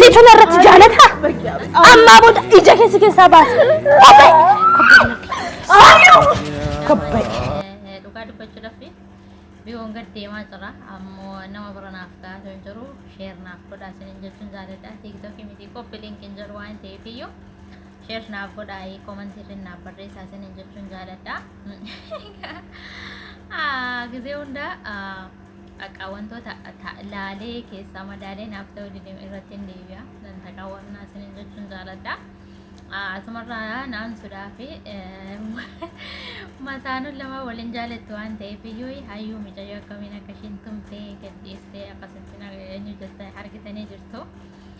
Situ narratti jaalata. Ammaa booda ija keessa keessaa baasa. Kobbee. Saayuu. Kobbee. Dhugaa dubbachuudhaaf biyoon gad deemaa jira. Ammoo nama bira naaf ta'aa hin jiru. Sheer naaf godhaa isiniin jechuun jaalladha. Tiiktookii miti qophii liinkiin jedhu waan ta'eef iyyuu sheer naaf godhaa komantii irra naaf barreessaa isiniin jechuun jaalladha. Gizee hundaa Akka wantoota ta- laalee keessaa madaalee naaf ta'uu dide irratti hin deebi'a. Nan taqa warnaa isiniin jechuun jaaladha. Ah, Asumarraa naan sudaa fi eh, masaanuun lama waliin jaalattu waan ta'eef iyyuu hayyuu micayyoo akkamiin akka ishiin tumtee gadhiistee akkasitti na- eenyu jette argitanii jirtu.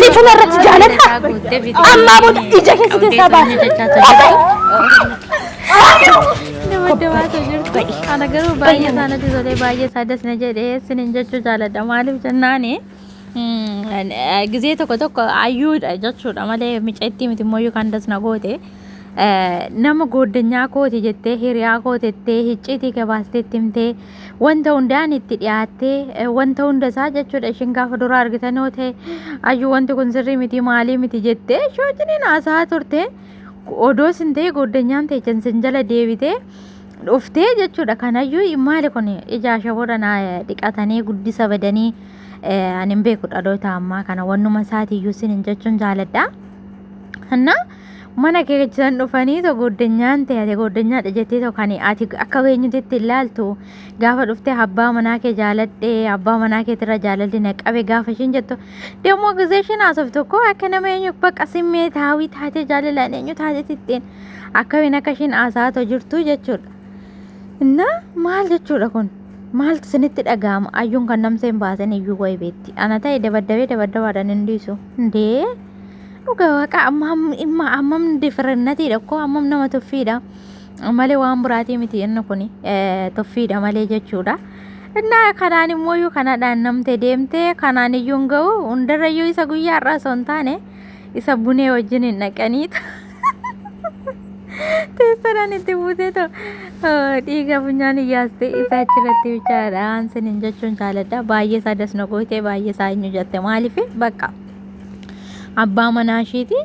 Situ narratti jaaladha. Ammaa booda ija keessa keessaa baasa. Kana garuu baay'ee isaa natti tolee baay'ee isaa das na jedhee sinin jechuu jaaladha maaliif jennaan gizee tokko tokko ayyuudha jechuudha malee micattii miti immoo yookaan das na goote nama gooddanyaa kooti jettee hiriyaa kootettee hicciitii gabaastee timtee wanta hundaan itti dhiyaattee eh, wanta hunda isaa jechuudha ishiin gaafa dura argitan yoo ta'e ayyu wanti kun sirrii miti maalii miti jettee ishee wajjiniin haasaa turte odoo sin ta'e goddanyaan teechan sin jala deebitee dhuftee jechuudha kanayyuu maali kun ijaa shaboodha naa dhiqatanii guddisa badanii eh, ani hin beeku dhaloota ammaa kana wannuma isaatiiyyuu sin hin jechuun jaaladha. እና mana kee keessan dhufanii to gooddenyaan ta'e ati gooddenyaa dhajettee to kan ati akka beenyutetti ilaaltu gaafa dhuftee abbaa manaa kee jaaladhee abbaa manaa keetirra jaalalli na qabe gaafa ishiin jettu deemoo gisee ishiin haasoftu tokko akka nama eenyu baqa simmee taawii taatee jaalalaan eenyu taatee titteen akkamiin akka ishiin haasaa to jirtu jechuudha. Inna maal jechuudha kun maaltu isinitti dhaga'ama ayyuun kan namseen baasan iyyuu wayi beetti ana ta'e dabaddabee dabaddabaadhaan hin dhiisu hundee. Dhugaa waaqa ammam differennatiidha koo ammam nama tuffiidha malee waan buraatii miti inni kun tuffiidha malee jechuudha. Innaa kanaan immoo iyyuu kanadhaan namte deemte kanaan iyyuu hin ga'u hundarra iyyuu isa guyyaa har'aa osoo hin taane isa bunee wajjin hin dhaqaniitu. Teessadhaan itti buutee too dhiiga funyaan iyyaaste isa achirratti bichaadhaan sinin jechuun jaaladha baay'ee isaa das na goote baay'ee isaa eenyu jette maaliif bakka. abbaa manaa isheeti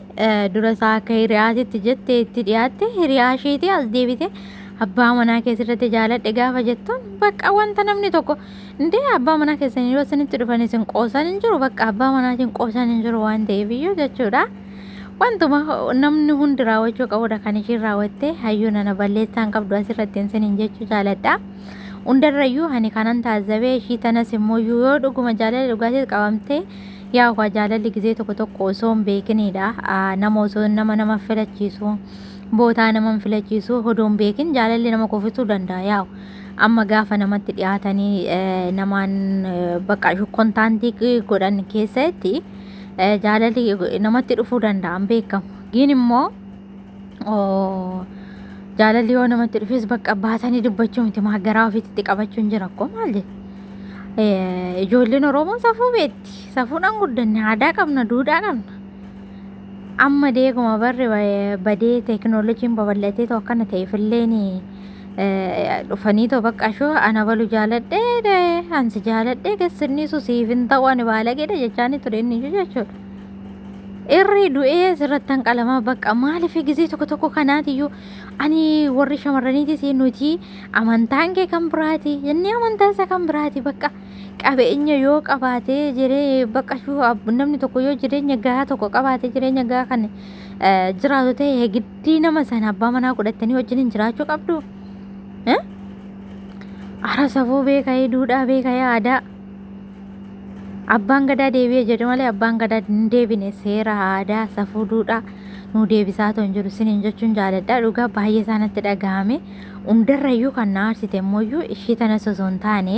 dura isaa akka hiriyaatitti jette itti dhiyaatte hiriyaa isheeti as deebite abbaa manaa keessatti jaaladhe gaafa jettuun bakka wanta namni tokko indee abbaa manaa keessanii yoo isinitti dhufan isin qoosan hin jiru bakka abbaa manaatiin qoosan hin jiru waan ta'eef iyyuu jechuudha. Wantuma namni hundi raawwachuu qabudha kan ishiin raawwatte hayyuu nana balleessaan qabdu asirratti hin sinin jechuu jaaladha. Hundarrayyuu ani kanan taazabee ishii tanas immoo yoo dhuguma jaalala dhugaatiin qabamtee Yaa ukaa jaalalli gizee tokko tokko osoo hin beekiniidha. Nama osoo nama nama filachiisu bootaa nama hin filachiisu odoo hin beekin jaalalli nama kufisuu danda'a yaa amma gaafa namatti dhiyaatanii namaan bakka shukkontaantii godhan keessatti jaalalli namatti dhufuu danda'a hin beekamu. Giin immoo jaalalli yoo namatti dhufes bakka baasanii dubbachuu miti maa garaa ofiitti qabachuun jira akkoo maal jedhe. Ijoolleen Oromoo safuu beekti. Safuudhaan guddanne aadaa qabna duudhaa qabna. Amma deeguma barri badee teekinooloojiin babal'atee too akkana ta'eefilleen dhufanii too bakka ashoo ana balu jaaladhee ansi jaaladhee gassirniisu siif hin ta'u ani baalageedha jechaanii ture inni jechuudha. Irri du'ee asirratti hanqalama bakka maaliif gisee tokko tokko kanaatiyyuu ani warri shamarraniitis nuti amantaan kee kan biraati inni amantaa isaa kan biraati bakka qabeenya yoo qabaate jiree bakka shuu ab- namni tokko yoo jireenya gahaa tokko qabaate jireenya gahaa kan eh, jiraatu ta'e giddii nama sana abbaa manaa godhattanii wajjin hin jiraachuu qabdu. Eh? Ara safuu beekayee duudhaa beekayee aadaa. Abbaan gadaa deebi'e jedhu malee abbaan gadaa hin deebine seera aadaa safuu duudhaa nu deebisaa otoo hin jiru siniin jechuun jaaladha dhugaa baay'ee isaanitti dhagahame hundarrayyuu kan na aarsite immoo ishii tanas osoo hin taane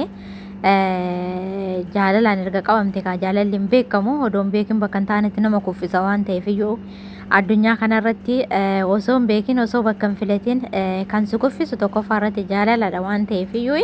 jaalalaan erga qabamte kaa jaalalli hin beekamu odoon beekin bakka hin taanetti nama kuffisa waan ta'eef iyyuu addunyaa kanarratti osoo hin beekin osoo bakka hin filatin kan si kuffisu tokkoffaa irratti jaalaladha waan ta'eef iyyuu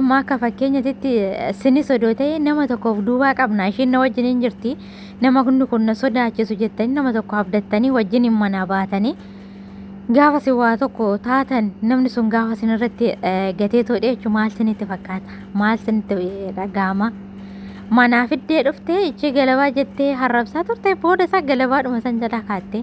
amma akka fakkeenyatitti sinis odoo ta'e nama tokkoof duubaa qabna ishiin na wajjin hin jirti nama hundi kun na sodaachisu jettanii nama tokko abdattanii wajjin hin manaa baatanii gaafa si waa tokko taatan namni sun gaafa sin irratti gatee toodhe jechuun maal sinitti fakkaata maal sinitti dhaga'ama manaa fiddee dhuftee ichi galabaa jettee harrabsaa turte booda isaa galabaadhuma san jalaa kaatte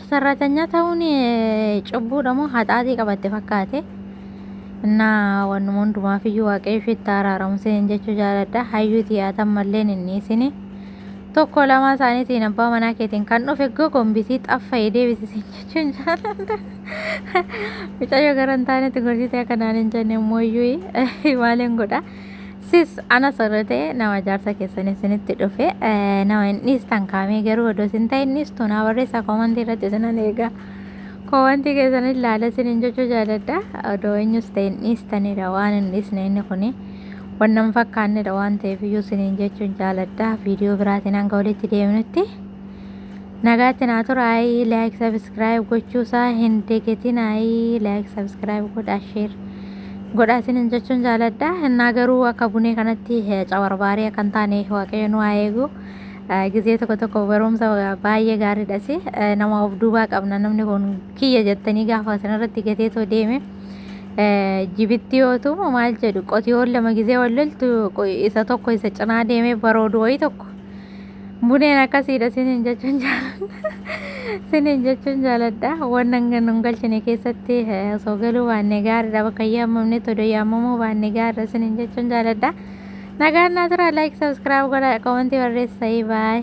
Sarraatanya ta'uun cubbuudha moo haxaatii qabatte fakkaate? Innaa wannuma hundumaaf iyyuu waaqayyo ishiitti haaraaramu isiniin jechuu jaaladha. Hayyuu tiyaata ammalleen hin dhiisini. Tokko lamaa isaaniitiin abbaa manaa keetiin kan dhufe gogombisii xaffa'ee deebisi siin jechuun jaaladha. Mucayyoo gara hin taanetti gorsitee akka naan hin jenne immoo iyyuu maaliin godha. Sis ana sirri ta'e nama jaarsa keessan isinitti dhufe eh, nama hin dhiistan kaamee garuu odoo isin ta'e hin dhiistu naa barreessaa koomantii irratti isinan eega. Koomantii keessan ilaala isinin jechuu jaaladha. Odoo eenyus ta'e hin dhiistanidha waan hin dhiisne inni kuni. Wanna hin fakkaannedha waan ta'eef iyyuu isinin jechuun jaaladha. Viidiyoo biraatiin hanga walitti deemnutti. Nagaatti naa tura ayii like subscribe gochuu isaa hin degetin ayii like subscribe godha share godha isinin jechuun jaaladha innaa garuu akka bunee kanatti cawarbaaree akka hin taane waaqayyo nu haa eegu gizee tokko tokko barumsa baay'ee gaariidhasi nama of duubaa qabna namni kun kiyya jettanii gaafa sanarratti gatee too deeme jibitti yoo tumu maal jedhu qotiyoon lama gizee wal loltu isa tokko isa cinaa deemee baroodu wayii tokko Buneen akkasiidha sinin jechuun jaaladha. Sinin jechuun jaaladha. Waan hanga nun galchine keessatti eh, osoo galuu baanne gaariidha. Bakka hin yaamamne todoo yaamamuu baanne gaariidha sinin jechuun jaaladha. Nagaan naa turaa like subscribe godha komentii barreessa baay.